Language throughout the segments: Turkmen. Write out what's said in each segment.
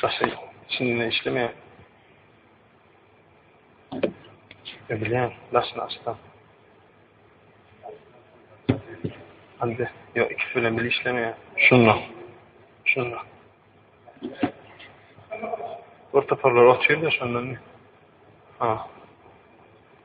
Saçy içinden işlemeýär. Ödülýän, daşyny açsam. Hande, ýok, ikisi bilen bile işlemeýär. Şunda. Şunda. Orta parlar otyr da şondan. Ha.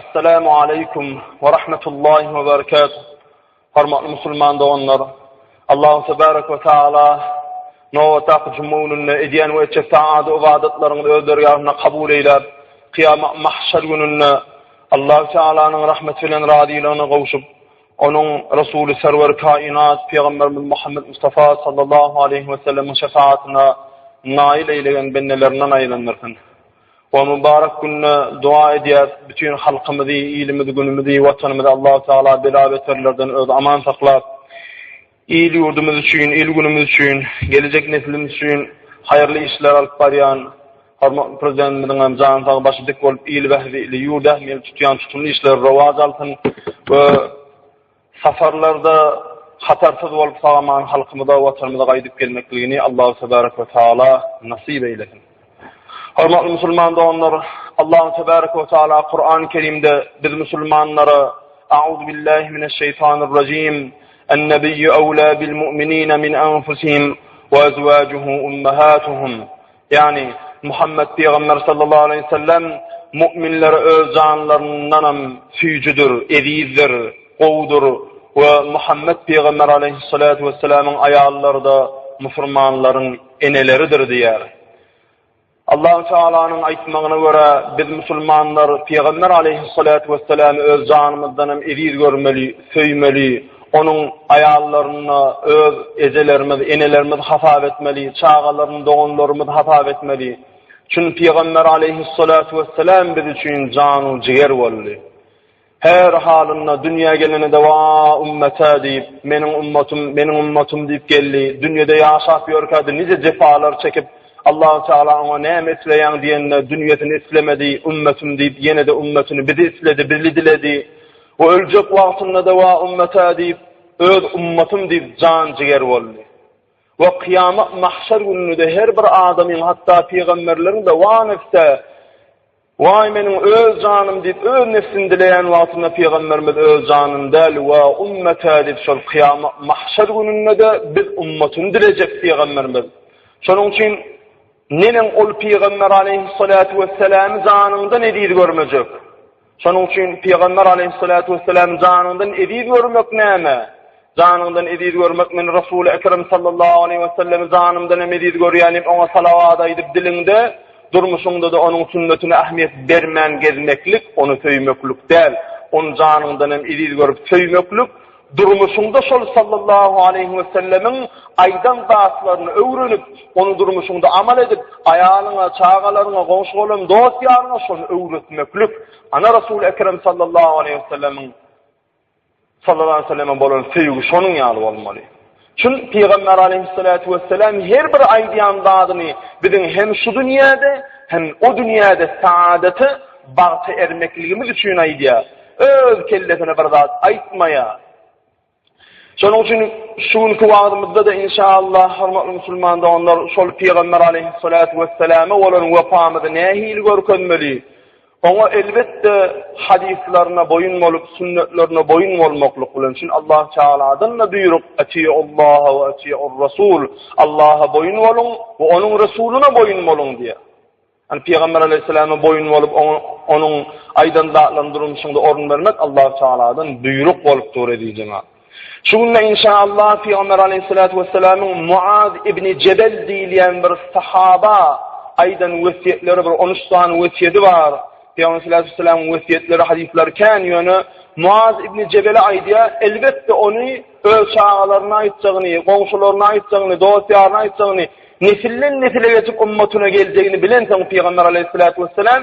Assalamu aleykum we rahmetullahi we berekatuh. Hormatly musulman doganlar, Allahu tebarek we taala nobatdaky juma gününde edýän we etjek taat ybadatlaryňyzy öz dergähinde kabul eýläp, kyýamat mahşer gününde Allahu taalanyň rahmeti bilen razylygyna gowşup, onuň Resuly Serwer kainat Pygamberimiz Muhammed Mustafa sallallahu aleyhi we sellemiň şefaatyna naýyl eýlegen bendelerinden aýlandyrsyn. Bu mübarek günde dua edýäs bütin halkymyzy, ilimizi, günümizi, watanymyzy Allahu Teala bela beterlerden özi aman saklap, il ýurdumyz üçin, il günümiz üçin, gelejek neslimiz üçin haýyrly işler alyp barýan hormatly Prezidentimiziň hem jany sag, başy dik bolup il bähbidi, ýurt ähmiýetli tutýan tutumly işleri rowaja alsyn we Safarlarda hatarsyz bolup sag-aman halkymyza, Watanymyza gaýdyp gelmekligini Allahu tebarek we taala nasyp eýlesin. Hormatly musulman doganlar, Allahu tebarek we taala Kurany Kerimde biz musulmanlara A'uzu billahi mineş şeýtanir rejim. Ennebiyyu awla bil mu'minina min anfusihim we azwajuhu ummahatuhum. Ýagny, Muhammet pygamber sallallahu aleýhi we sellem mu'minlere öz janlaryndanam süýjüdir, ezizdir, gowudyr we Muhammet pygamber aleýhissalatu wessalamyň aýallary-da musulmanlaryň eneleridir diýýär. Allahu Tealanyň aýtmagyna görä, biz musulmanlar pygamber aleýhissalatu wessalamy öz janymyzdanam eziz görmeli, söýmeli, Onuň aýallaryny öz ejelerimiz, enelerimiz hasap etmeli, çagalaryny doganlarymyz hasap etmeli. Çünki Pygamber aleýhissalatu wesselam biz üçin janu jiger boldy. Her halynda dünýä geleninde wa ummata diýip, meniň ummatym, meniň ummatym diýip geldi. Dünýede ýaşap ýörkädi nije jepalar çekip, Allahu Taala oňa näme isleýäň diýende, dünýesini islemedi, ummatym diýip ýene-de ummatyny bizi isledi, bizi diledi. Bu öljek wagtynda-da Wa ummetee diýip, öz ummatym diýip jan-jiger boldy. We kyýamat, mahşer gününde-de her bir adamyň, hatda pygamberleriň-de Wa nefsee, Waý, meniň öz janym diýip, öz nefsini dileýän wagtynda pygamberimiz öz janyny däl, Wa ummetee diýip, şol kyýamat, mahşer gününde-de biz ummatyny dilejek pygamberimiz. Şonuň üçin neneň ol pygamber aleýhissalaty wesselamy janyňdan eziz görmejek? Şonuň üçin Pygamber aleýhissalatu wessalam janyňdan eziz görmek näme? Janyňdan eziz görmek men Resuly Ekrem sallallahu aleýhi wesellemi janymdan hem eziz görýän diýip oňa salawat aýdyp diliňde, durmuşyňdada onuň sünnetine ähmiýet bermän gezmeklik, ony söýmeklik däl, ony janyňdan hem eziz görüp söýmeklik, Durmuşyňda şol sallallahu aleýhi wesellemiň aýdan zatlaryny öwrenip, ony durmuşyňda amal edip, aýalyňa, çagalaryňa, goňşy-golum, dost-ýaryňa şony öwretmeklik, ana Resul Ekrem sallallahu aleýhi wesellemiň sallallahu aleýhi weselleme bolan söýgi şonuň ýaly bolmaly. Çyn Pygamber aleýhissalatu wessalam her bir aýdýan zadyny biziň hem şu dünýäde, hem o dünýäde saadata, bagta ermekligimiz üçin aýdýar. Öz kellesine bir zat aýtmaýar. Şonuň üçin şu günki wagzymyzda-da inşaallah hormatly musulman doganlar şol Pygamber aleýhissalatu wessalama bolan wepamyzy nähili görkezmeli? Oňa elbetde hadyslaryna boýun bolup, sünnetlerine boýun bolmaklyk bilen, çünki Allah Tagaladan-da buýruk, Atiullaha we atiurrasul, Allaha boýun boluň we Onuň Resulyna boýun boluň diýýär. Ýani Pygamber aleýhissalama boýun bolup, oňa Onuň aýdan zatlaryny durmuşyňda orun bermek Allah Tagaladan buýruk bolup dur, eziz jemagat. Şu günde inşaallah Pygamber Aleýhissalatu Wessalamyň Muaz ibn Jebel diýilýän bir sahaba aýdan wesýetleri bir on üç sany wesýeti bar. Pygamber Sallallahu Aleýhi Wessalamyň wesýetleri hadislary kän ýöne Muaz ibn Jebele aýdýar, elbetde ony öz çagalaryna aýtjagyny, goňşularyna aýtjagyny, dost ýaryna aýtjagyny, nesilden nesile geçip ummatyna geljegini bilensoň Pygamber Aleýhissalatu Wessalam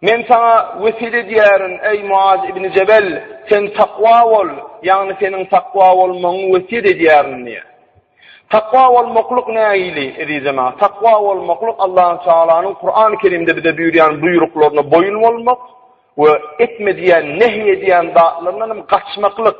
Men saňa wesýet edýärin, eý, Muaz ibn Jebel, sen takwa bol, ýagny seniň takwa bolmagyňy wesýet edýärin diýýär. Takwa bolmaklyk nähili, eziz jemagat? Takwa bolmaklyk Allahu Tagalanyň Kurany Kerimde bize buýurýan buýruklaryna boýun bolmak we etme diýen, nehy edýän zatlaryndan hem gaçmaklyk.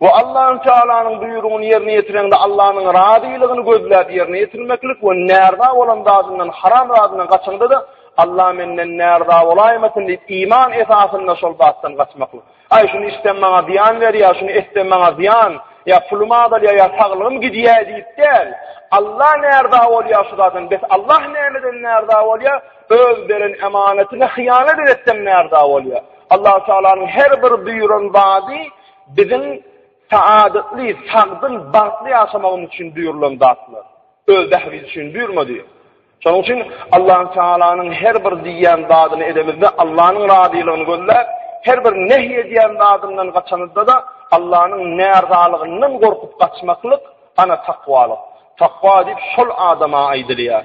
Bu Allahü Tealanyň buýrugyny ýerine ýetireňde Allanyň razylygyny gözläp ýerine ýetirmeklik we närza bolan zadyndan, haram zadyndan gaçaňda-da Allah menden närza bolaýmasyn diýip iman esasynda şol zatdan gaçmaklyk. Aý şuny içsem maňa zyýan berýär, şuny etsem maňa zyýan, ýa pulum azalýar, ýa saglygym gidýär diýip däl. Allah närza bolýar şu zatdan, bes Allah nämeden närza bolýar? Öz beren emanatyna hyýanat edetsem närza bolýar. Allahü Tealanyň her bir buýran zady Biziň saadetli, sagdyn, bagtly ýaşamagymyz üçin buýrulan zatlar. Öz bähbidi üçin buýurmady. Şonuň üçin Allahü Tealanyň her bir diýýän zadyny edemizde Allahnyň razylygyny gözläp, her bir nehy edýän zadyndan gaçanydada Allahnyň närzalygyndan gorkup gaçmaklyk ana takwalyk. Takwa diýip şol adama aýdylýar.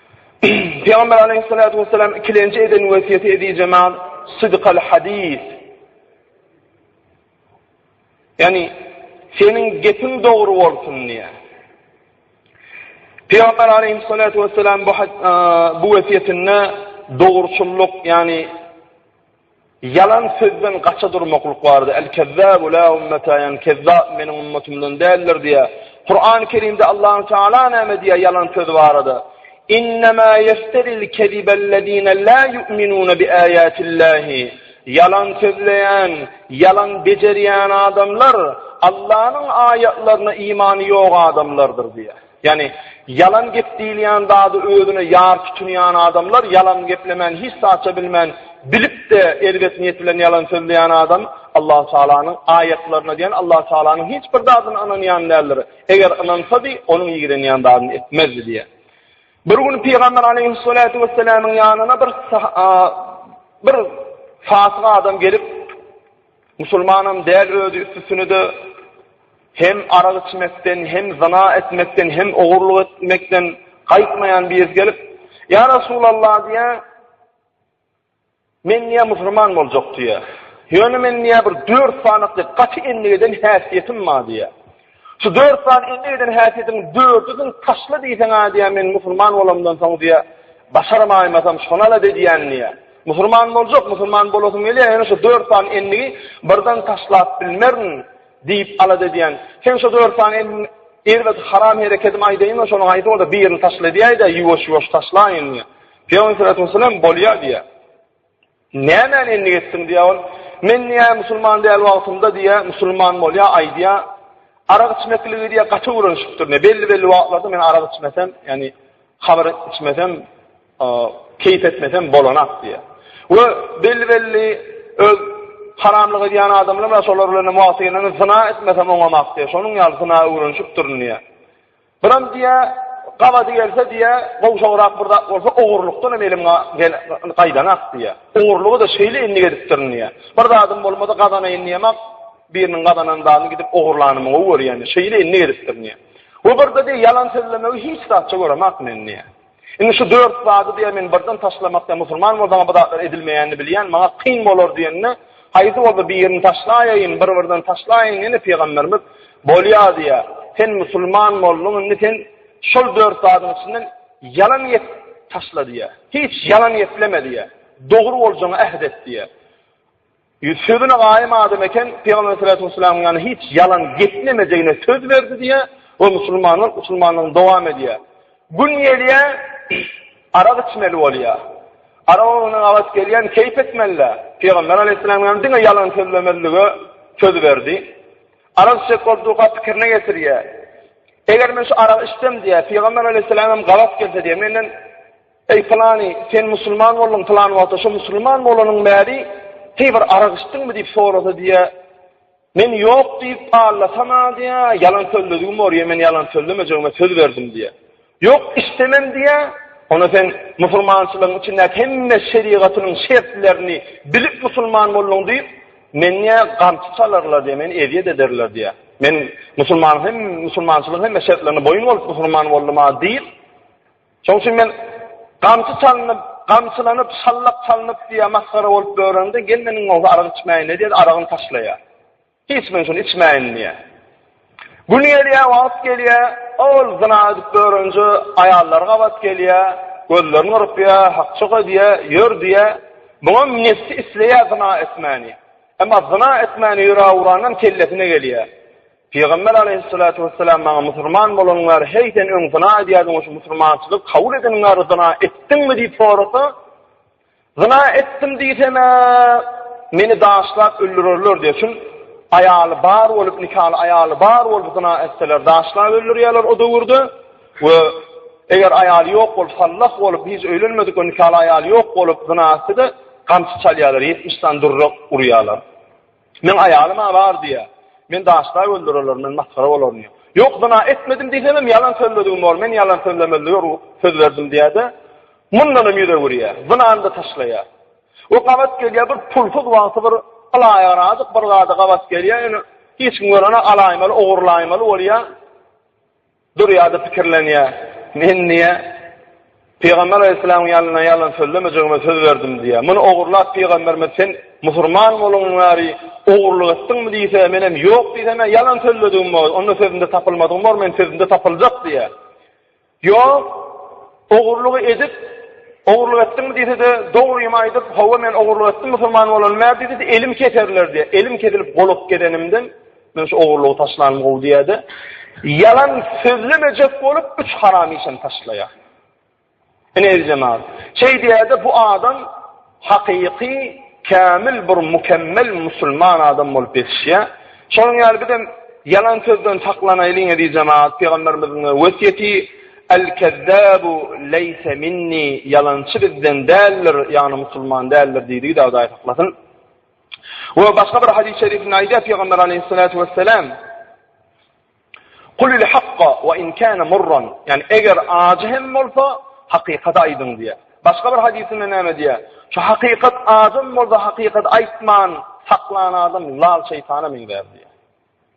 Pygamber aleýhissalatu wessalam ikilenji eden wesýeti ezizemaz Sydykal hadis. Ýani seniň gepiň dogry bolsun diýe. Pygamber aleýhissalatu wessalam bu bu wesýetinde dogruçyllyk, ýani Ýalan sözden gaça durmaklyk barada, El-kezzâbu lâ ummetâ, ýagny kezzap meniň ummatymdan däldir diýýär. Kurany Kerimde Allahu Teala näme diýýär ýalan söz barada? Innemâ yefteril kezibellezîne lâ yu'minûne bi âyâtillâhi. Ýalan sözleýän, ýalan bejerýän adamlar Allanyň aýatlaryna imany ýok adamlardyr diýýär. Ýagny, ýalan gep diýilýän zady özüne ýar tutunýan adamlar, ýalan geplemän hiç zatça bilmän, bilip-de erbet niýet bilen ýalan sözleýän adam Allahu Tagalanyň aýatlaryna diýen Allahu Tagalanyň hiç bir zadyna ynanýan däldir. Eger ynansady, onuň ýigrenýän zadyny etmezdi diýýär. Bir gün Pygamber Aleýhussalatu wessalamyň ýanyna bir bir fasyk adam gelip, Musulmanam däl özi üstüsine-de hem arak içmekden, hem zyna etmekden, hem ogurlyk etmekden gaýtmaýan biri gelip, Ýa Resulallah diýýär, Men diýýär musulman boljak diýýär. Ýöne men diýýär bir dört sany gaty endik eden häsiýetim bar diýýär. Şu dört sany elde eden häsiýetiň dördüsiň taşla diýseň-ä diýýär, men musulman bolamdan soň diýýär, başarmaýmasam şonal-a didýän diýýär. Musulman boljak, musulman bolasym gelýär, ýöne şu dört sany endigi birden taşlap bilmerin diýip alada edýän. Sen şu dört sany endigiň erbet haram herekedim aýdaýyňa şonuň haýsy bolsa birini taşla diýäý-de, ýuwaş-ýuwaş taşlaýyn diýýär. Pygamberimiz sallallahu aleyhi ve sellem bolýar diýýär. Nämäni endik etdiň? diýýär ol. Men diýýär, musulman däl wagtymda diýýär, musulman bolýar, aýdýar. Arak içmekligi diýýär, gaty öwrenişipdir. Ne belli-belli wagtlarda men arak içmesem, ýagny hamyr içmesem, keýp etmesem bolanak diýýär. We belli-belli öz haramlyk edýän adamlar bar, şolar bilen hem wagty gelende zyna etmesem oňamak diýýär. Şonuň ýaly zyna öwrenişipdirin diýýär. Biram diýýä, gabady gelse diýýä, gowşagrak bir zat bolsa ogurlykdanam elim gaýdanok diýýä. Ogurlygy-da şeýle endik edipdirin diýýä. Bir zadym bolmasa gazanaýyn diýemok, biriniň gazanan zadyny gidip ogurlanymy gowy görýän diýýä. Şeýle endik edipdirin diýýä. We birde diýýä, ýalan sözlemegi hiç zatça göremok men diýýä. Indi şu dört zady diýen men birden taşlamak diýen musulman bolsaňa bu zatlar edilmeýänini bilýän maňa kyn bolar diýende haýsy bolsa birini taşlaýaýyn bir birden taşlaýyň ýene pygamberimiz bolýa diýýär sen musulman bolduň indi sen şol dört zadyň içinden ýalan gep taşla diýýär hiç ýalan gepleme diýýär dogry boljagyňy äht et diýýär. Ýüz sözüne gaýym adam eken, Pygamberimiz sallallahu aleýhi we sellemiň ýanyna hiç ýalan geplemejegine söz berdi diýýär we musulmanlar musulmanlygyny dowam edýär. Gün gelýär, arak içmeli bolýar. Arak öňüne gabat gelýän keýp etmeli-dä. Pygamber aleýhissalam ýany diňe ýalan sözlemezlige söz berdi. Arak içjek boldugyka pikirine getirýär. Eger men şu aragy içsem diýýär, Pygamber aleýhissalam hem gabat gelse diýýär, menden Eý, pylany, sen musulman bolduň, pylan wagta şo musulman bolanyň bäri heý bir arak içdiňmi diýip sorasa diýýä, Men ýok diýip allasam-a diýýä, ýalan sözledigim bor, ýe men ýalan sözlemejegime söz berdim diýýä. Ýok, içdemem diýýä, Onda sen musulmançylygyň içindäki hemme şerigatynyň şertlerini bilip musulman bolduň diýip, men diýýä gamçy çalarlar diýýä, meni ezýet ederler diýýä. Men musulmanyň hem musulmançylygyň hemme şertlerine boýun bolup musulman boldum-a diýip, Şoň üçin men gamçy çalynyp, gamçylanyp, şallak çalynyp diýýär, masgara bolup öwrendi, gelnenim bolsa arak içmäýin-le diýýär, aragyny taşlaýar. Hiç men şuny içmäýin diýýär. Gün gelýär, wagt gelýär, ol zyna edip öwrenje, aýallary gabat gelýär, gözlerini gyrpýar, hakjyga diýýär, ýör diýýär. Muňam nebsi isleýär zyna etmäni. Emma zyna etmäni ýüregi urandan kellesine gelýär. Pygamber aleýhissalatu wessalam maňa musulman bolanyň bäri heý sen öň zyna edýärdiň şu musulmançylygy kabul edeniň bäri zyna etdiňmi diýip sorasa zyna etdim diýsemä meni daşlap öldürerler diýe şul aýaly bar bolup nikaly aýaly bar bolup zyna etseler daşlap öldürýärler o döwürde we eger aýaly ýok bolup sallah bolup hiç öýlenmedik we nikaly aýaly ýok bolup zyna etse de gamçy çalýarlar ýetmiş sany durrak urýarlar Meň aýalym-a bar diýýä. Men daşda öldüreler, men masgara bolaryn diýýä. Ýok, zyna etmedim diýsemem ýalan sözledigim bor, men ýalan sözlemezlige ru söz berdim diýýä-de, mundanam ýüz öwürýä, zynany-da taşlaýa. We gabat gelýä, bir pulsuz wagty bir alaýagyrajyk bir zada gabat gelýä, ýöne hiç kim görene alaýmaly, ogurlaýmaly bolýa. Durýar-da pikirlenýär, Men niýe Pygamber alaýhyssalamyň ýanyna ýalan sözlemejegime söz berdim diýýär. Muny ogurlap Pygamberimiz Sen musurman bolandan bäri ogurlyk etdiňmi diýse, menem Ýok diýsem-ä ýalan sözledigim bor, onda sözümde tapylmadygym bor, men sözümde tapyljak diýýär. Ýok, ogurlygy edip, ogurlyk etdiňmi diýse-de, dogrymy aýdyp, Hawa, men ogurlyk etdim musurman bolandan bäri diýse-de, elim keserler diýýär. Elim kesilip golup gedenimden, Men şu ogurlygy taşlanym gowy diýäde, ýalan sözlemejek bolup üç haram işini taşlaýa. Ine eljemaz. Şeý diýäde bu adam hakyky kämil bir mükemmel musulman adam bolup ýetişýä. Şonuň ýaly bizem ýalan sözden saklanaýlyň eziz jemaat, pygamberimiziň wesýeti El-kezzabu leýse minni, ýalançy bizden däldir, ýagny musulman däldir diýdigi Dawuda aýtlasyn. We başga bir hadys şerifinde aýdýar Pygamber Aleýhissalatu Wesselam, Kulil hakka we in kana murran. Yani eger acı hem bolsa hakykatı aýdyň diýär. Başga bir hadysynda näme diýär? Şu hakykat acym bolsa hakykat aýtman saklan adam lal şeýtana meňzär diýär.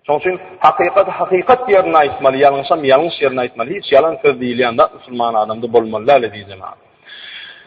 Şoň üçin hakykat hakykat ýerine aýtmaly, ýalňyşam ýalňyş ýerine aýtmaly. Hiç ýalan söz diýilýän zat musulman adamda bolmaly däl diýjemä.